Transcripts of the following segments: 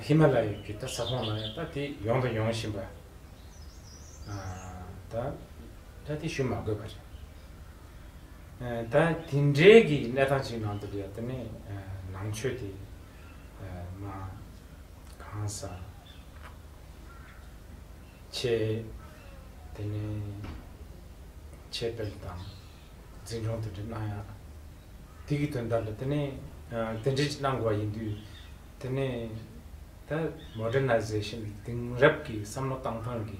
ཧི་མ་ལ་ཡི་གི་ད་ས་ཁོངས་ན་ཡང་ད་དེ་ཡོང་དང་ཡོང་བཞིན་པ། ད་ད་དེ་ཞུ་མ་དགོས་པ་རེད། ད་དེ་འདྲའི་གི་གནས་སྟངས་ཅིག་ནང་དུ་ཡོད་ད་ནི་ནང་ཆོས་དེ་མ་གང་ས་ཆེ་དེ་ནི་ཆེ་དཔལ་དང། འཛིན་སྐྱོང་དེ་འདྲས་གནང་ཡག། དེ་གི་དོན་དག་ལ་དེ་ནས་དེ་འདྲས་གནང་དགོས་པ་ཡིན་དུས། དེ་ནས་ད Modernization དེང་རབས་ཀྱི་བསམ་བློ་བཏང་སྟངས་ཀྱི་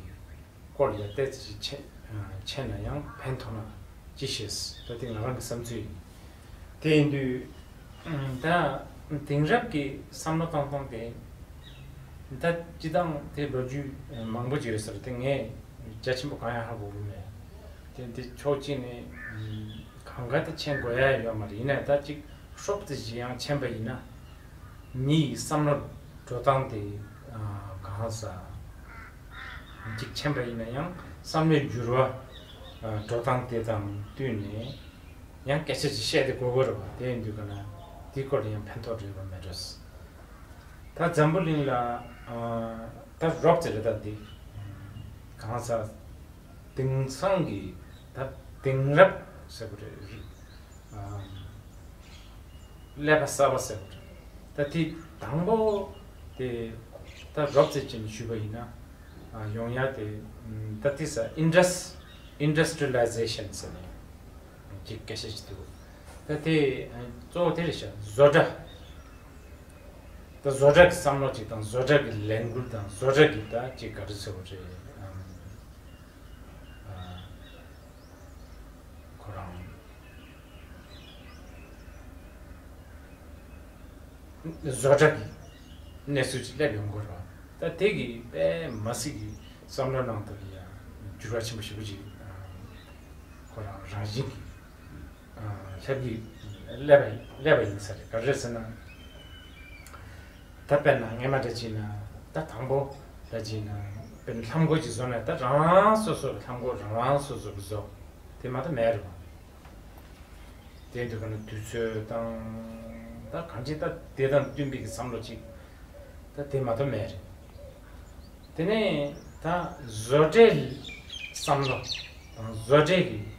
སྐོར་ལ་ཡར་བལྟས་ཚོད་ཅིག་བྱས་བྱས་ན་ཡང་ཕན་ཐོགས་ན་ཅི་ཞེས་ད་དེ་ང་རང་གི་བསམ་ཚུལ་ཡིན། དེ་ཡིན་དུས། ད་དེང་རབས་ཀྱི་བསམ་བློ་བཏང་སྟངས་དེ། ད་སྤྱི་བཏང་དེ་ལོ་རྒྱུས་མང་པོ་ཡོད་ས་རེད་དེ་ངས་རྒྱ་ཆེན་པོ་གང་ཡང་ཧ་གོ་གི་མེད། དེ་འདི་ཕྱོགས་གཅིག་ནས་གང་གཱ་དེ་མཆན་དགོས་ཡ་ཡོད་མ་རེད་ཡིན་ན་ད་ཅིག་ཧྲོབ་ཙེ་བཞི་ཡང་མཆན་པ་ཡིན་ན་མི་ཡི་བསམ་བློ་འགྲོ་སྟངས་དེ་གང་ཟ་ཅིག་མཆན་པ་ཡིན་ན་ཡང་བསམ་བློའི་འགྱུར་བ་འགྲོ་སྟངས་དེ་དང་བསྟུན་ནས་ཡང་སྐད་ཆ་ཅིག་བཤད་དེ་གོ་གི་རེད་བ་དེ་ཡིན་དུས་ག་ན་དེའི་སྐོར་ལ་ཡང་ཕན་ཐོགས་རེད་བ་མེད་རེད་ད་འཛམ་བུ་གླིང་ལ་ད་ཧྲོབ་ཙེ་རེད་ད་འདི་གང་ཟ། དེང་སང་གི་ད་དེང་རབས་ཟེར་བ་རེད། ཀླད་པ་གསར་པ་ཟེར་བ་རེད། ད་དེ་དང་པོ་དེ་ད་རོབ་ཙེ་ཅན་ཞུས་པ་ཡིན་ན་ཡོང་ཡ་དེ་ད་དེ་ས Indus Industrialization ཟེར་བ་ཅིག་སྐད་ཆ་ཅིག་འདུག་ད་དེ་གཙོ་བོ་དེ་རེད་བཞག་བཟོ་གྲྭ། ད་བཟོ་གྲྭ་གི་བསམ་བློ་གཅིག་དང་བཟོ་གྲྭ་གི་ལས་འགུལ་དང་བཟོ་གྲྭ་གི་ད་ཅིག་ག་རེ་ཚོད་བོ་རེད་ཨང། ཁོ་རང། བཟོ་གྲྭ་གི་གནས་ཚུལ་གཅིག་སླེབས་ཡོང་དགོས་རོགས་ད་དེ་གི་པད་མ་སི་གི་བསམ་བློ་ནང་དུ་ཡང་འགྱུར་བ་ཆེན་པོ་ཞིག་པོ་ཅིག་ཨང། ཁོ་རང་རང་བཞིན་གི་ལྷའི་བུ། ཀླད་པ་ཡིན་ས་རེད་ག་རེད་ཟེར་ན། ད་དཔེར་ན་ངེད་མ་འདྲ་གྱིས་ན་ད་དང་པོ་ད་གྱིས་ན་དཔེར་ན་ལྷམ་མགོ་གཅིག་བཟོ་ན་ད་རང་རང་སོ་སོར་ལྷམ་མགོ་རང་རང་སོ་སོར་བཟོ། དེ་མ་ད་མེད་རེད་བ། དེ་འདོད་པ་ན་དུས་ཚོད་དང་ད་གང་ཅི་ད་དེ་དང་བསྟུན་པའི་བསམ་བློ་གཅིག་ད་དེ་མ་ད་མེད་རེད། དེ་ནས་ད་བཟོ་གྲྭའི་བསམ་བློ་དང་བཟོ་གྲྭའི་གི།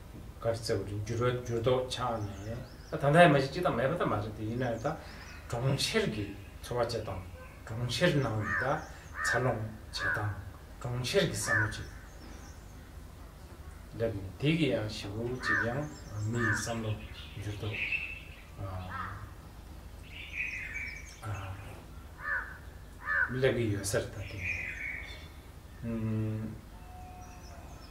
གར་རྩེ་བ་རེད་འགྱུར་བ་འགྱུར་ལྡོག་ཆགས་ནས་ད་ད་ལྟ་ཡིན་མ་ཤེས་ཅི་དང་མེད་པ་ད་མ་རེད་དེ་ཡིན་ན་ད་གྲོང་ཁྱེར་གྱི་འཚོ་བ་བྱེད་སྟངས་གྲོང་ཁྱེར་ནང་གི་ད་འཚར་ལོངས་བྱེད་སྟངས་གྲོང་ཁྱེར་གྱི་བསམ་བློ་ཅིག་སླེབས་ནས་དེ་གི་ཡང་བཞི་བོ་གཅིག་ཡང་མི་ཡི་བསམ་བློ་འགྱུར་ལྡོག་སླེབས་ཀྱི་ཡོད་སར་ད་དེ་ཡིན།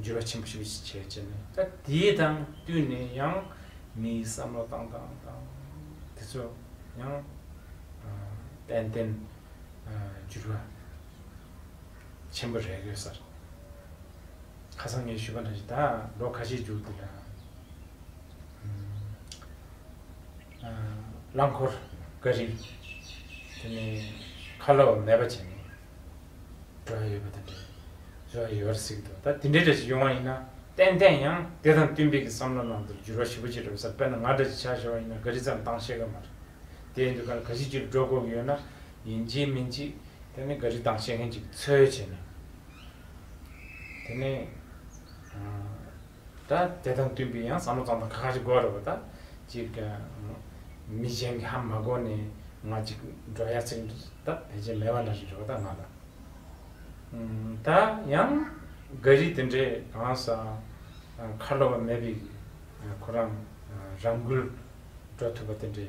འགྱུར་བ་ཆེན་པོ་ཞིག་བྱས་བྱས་ནས་ད་དེ་དང་བསྟུན་ནས་ཡང་མིའི་བསམ་བློ་བཏང་བཏང་བཏང་དེ་ཚོ་ཡང་དཔལ་ལྡན་འགྱུར་བ་ཆེན་པོ་རེག་ཡོད་ས་རེད། ཁ་སང་ངས་ཞུས་པ་འདྲ་ཞིག་ད་ལོ་ཁ་ཤས་འཇུག་འདུག་རླངས་འཁོར་ཀ་རིགས་དེ་ནི་ཁ་ལོ་མེད་པ་བྱས་ནས་སྒྲ་ཡོད་པ་དང་འདྲ་བའི་རེ་བ་ཡོད་པར་གཟིགས་འདུག་ད་དེ་འདྲའི་སྒྲ་ཞིག་ཡོང་བ་ཡིན་ན་ཏན་ཏན་ཡང་དེ་དང་བསྟུན་པའི་གི་བསམ་བློ་ནང་དུ་འགྱུར་བ་ཞིབ་པོ་བྱེད་གྲབས་ས་དཔེར་ན་ང་འདྲ་ཞིག་ཆགས་ཤོར་བ་ཡིན་ན་ག་རི་ཙམ་བཏང་ཤེས་ཀ་མ་རེད། དེ་ཡིན་དུས་ཁ་ན་ག་ཤེད་ཅིག་སྒྲོ་བསྐོར་གི་ཡོད་ན་ཡིན་གཅིག་མིན་གཅིག་དེ་ནི་ག་རི་བཏང་ཤེས་མཁན་ཅིག་འཚོལ་བྱེད་ནས་དེ་ནི། ད་དེ་དང་བསྟུན་པའི་ཡང་བསམ་བློ་གཙང་མ་ཁ་ཁ་ཅིག་དགོས་རེད་བ་ད། ཅིག། མི་གཞན་གྱི་ཧམ་མ་དགོས་ནས་ང་ཅིག་འགྲོ་ཡག་ཚིག་ད་ཕལ་ཆེར་མེད་བ་འདྲ་རེད་བ་ད་ང་ལ། ད་ཡང་འགའ་རིས་དེ་འདྲའི་གང་ཟག་ཁ་ལོ་བ་མེད་པའི་ཁོ་རང་རང་འགུལ་འགྲོ་ཐུབ་པ་དེ་འདྲའི་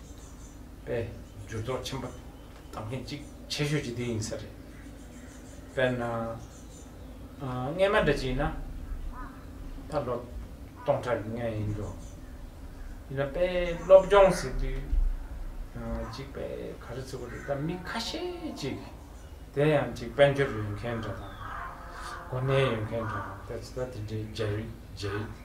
པའི་འགྱུར་ལྡོག་ཆེན་པོ་དང་ལྷན་ཅིག་ཆེ་ཤོས་ཀྱི་དེ་ཡིན་ས་རེད། དཔེར་ན། རྔན་མ་འདྲ་གཅིག་ཡིན་ན། ད་ལོ་སྟོང་ཕྲག་གི་རྔན་ཡིན་འགྲོ། ཡིན་ན་དཔེ་སློབ་སྦྱོང་ཟེར་དུས། གཅིག་དཔེ་ག་རེ་ཚུགས་པ་རེད་ད་མི་ཁ་ཤས་ཅིག་དེ་ཡང་གཅིག་དཔལ་འབྱོར་ཡོད་མཁན་འདྲ་དང། གོ་གནས་ཡོད་མཁན་འདྲ་དང་ད་ཚོད་ལྟ་དེ་འདྲའི་རྒྱ་རིགས་རྒྱ་ཡིག།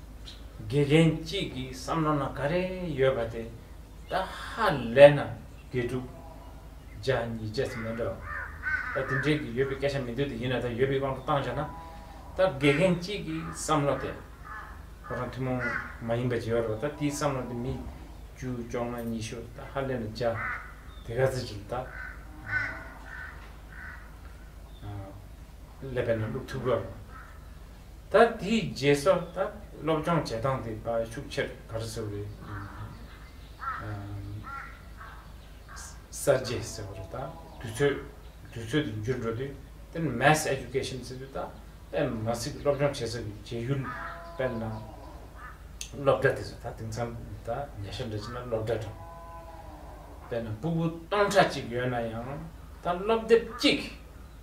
དགེ་རྒན་གཅིག་གི་བསམ་བློ་ན་ག་རེ་ཡོད་པ་དེ་ད་ཧ་ལས་ན་དགེ་ཕྲུག་བརྒྱ་གཉིས་བརྒྱ་ཙམ་ཡོད་འདྲ། ད་དེ་འདྲའི་གི་ཡོད་པའི་སྐད་ཆ་མི་འདོད་དེ་ཡིན་ན་ད་ཡོད་པའི་དབང་དུ་བཏང་བྱས་ན་ད་དགེ་རྒན་གཅིག་གི་བསམ་བློ་དེ་ཁོ་རང་ཐུན་མོང་མ་ཡིན་པ་བརྗེ་བ་རེད་བ་ད་དེའི་བསམ་བློ་དེ་མི་བཅུ་བཅོ་ལྔ་ཉི་ཤུ་ད་ཧ་ལས་ན་བརྒྱ་དེ་ག་ཚོད་ཅིག་ད་ཀླད་པའི་ནང་བླུགས་ཐུབ་དགོས་རེད། ད་དེའི་རྗེས་སུ་ད་སློབ་སྦྱོང་བྱེད་སྟངས་དེ་ད་ཤུགས་ཆེར་དར་གསོ་བའི་གསར་བརྗེ་ཟེར་བ་རེད་ད་དུས་ཚོད་དུས་ཚོད་དུ་འགྱུར་འགྲོ་དུས་དེ་ནི Mass Education ཟེར་དུས་ད་ཨེ་མ་ཚིག་སློབ་སྦྱོང་བྱེད་ས་ཀྱི་བྱེད་ཡུལ་དཔེར་ན་སློབ་གྲྭ་དེ་ཚོ་ད་དེང་སང་ད་ཉེ་ཆར་འདྲ་བྱས་ན་སློབ་གྲྭ་གྲངས་དཔེར་ན་སྤུ་བོ་སྟོང་ཕྲག་གཅིག་ཡོད་ན་ཡང་ད་སློབ་དེབ་གཅིག་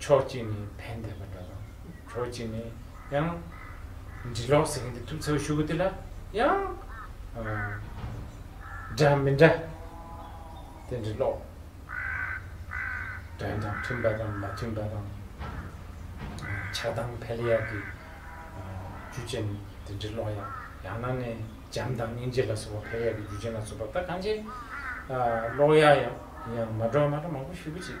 ཕྱོགས་གཅིག་ནས་ཕན་བདེ་བ་འདྲ་དང། ཕྱོགས་གཅིག་ནས་ཡང། འབྲི་ཀློག་ཟེར་མཁན་དེ་ཐུབ་ཚོད་ཞུ་གི་དེ་ལ་ཡང། འདྲ་མི་འདྲ། དེ་འབྲི་ཀློག། དོན་དང་མཐུན་པ་དང་མ་མཐུན་པ་དང། ཆགས་སྡང་འཕེལ་ཡག་གི། རྒྱུ་ཅན་ནི་དེ་འབྲི་ཀློག་ཡག། ཡང་ན་ནས་འཇམ་དང་སྙིང་རྗེ་ལ་སོགས་པ་འཕེལ་ཡག་གི་རྒྱུ་ཅན་ལ་སོགས་པ་ད་གང་ཅི། ཀློག་ཡག་ཡང་མ་འགྲོ་མ་འགྲོ་མང་པོ་ཞུ་གི་ཅིག།